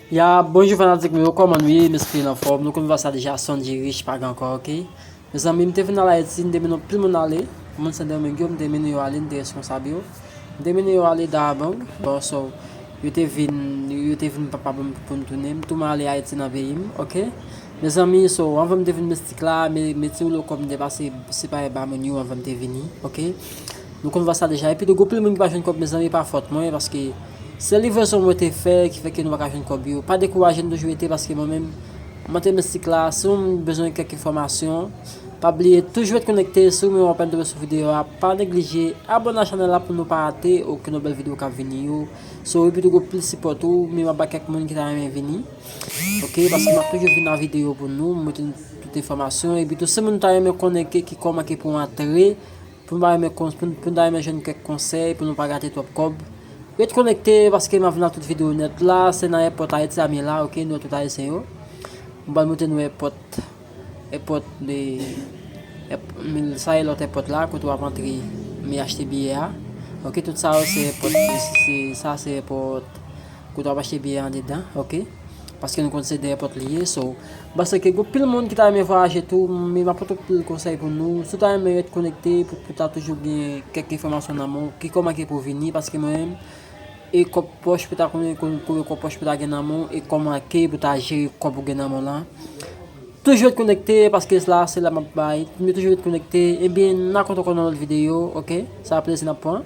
Ya bonjou fanatik mwen yo kòman nou ye m espere nou anfòm nou konn vwa sa deja Sondjy Riche pa gen ankò ok mezanmi m te vin al Ayiti m te mennen anpil moun ale moun Sendomeng yo m te mennen yo ale m te reskonsab yo m te mennen yo ale Dahbang bon so yo te vin yo te vin pa pa ban m pou m tounen m tou man ale Ayiti nan peyi m ok mezanmi so anvan m te vin mistik la me me ti woulo kòb m te pase sipare ba moun yo anvan m te vini ok. Nou konn vwa sa deja epi tou gwo pil moun ki pa jwenn kòb mezanmi pa fòt mwen paske se livrezon mwen te fè ki fè ke nou paka jwenn kòb yo pa dekouraje nou toujou rete paske mwen menm mwen te mistik la si ou menm bezwen kèk enfòmasyon pa bliye toujou ret konekte si ou menm wap entere sou videyo a pa neglije abòne a chanèl la pou nou pa rate okenn lòt bèl videyo kap vini yo so epi tou gwo pil sipò tou men map bay kèk moun ki ta renmen vini ok paske map toujou vini ak videyo pou nou mete tout enfòmasyon epi tou si moun ta renmen konnen ki kòman ke pou antre. Pou nou ta renmen kon pou nou ta renmen jwenn kèk konsèy pou nou pa gate twòp kòb ret konekte paske map vin ak tout video nèt la se nan èpòt ayiti a m ye la ok nou wè tout ayisyen yo m pral montre nou èpòt èpòt de sa e lòt èpòt la kote wap antre m ye achte biyè a ok tout sa yo se èpòt se sa se èpòt kote wap achte biyè andedan ok. Paske nou konn se dèyè pòt li ye so. M'panse ke gen pil moun ki ta renmen vwayaje tou, men m'ap pote pil konsèy pou nou. Si w ta renmen ret konekte pou pou ta toujou gen kèk enfòmasyon nan men w, ki kò manke pou vini, paske mwen menm, e kòb pòch pou ta konnen konbe kòb pòch pou ta gen nan men w, e kò manke pou ta jere kòb ou gen nan men w lan. Toujou ret konekte, paske la se la m'ap bay. Toujou ret konekte, ebyen nan kontan kò nan lòt videyo, ok? Sa plezi n'ap pran.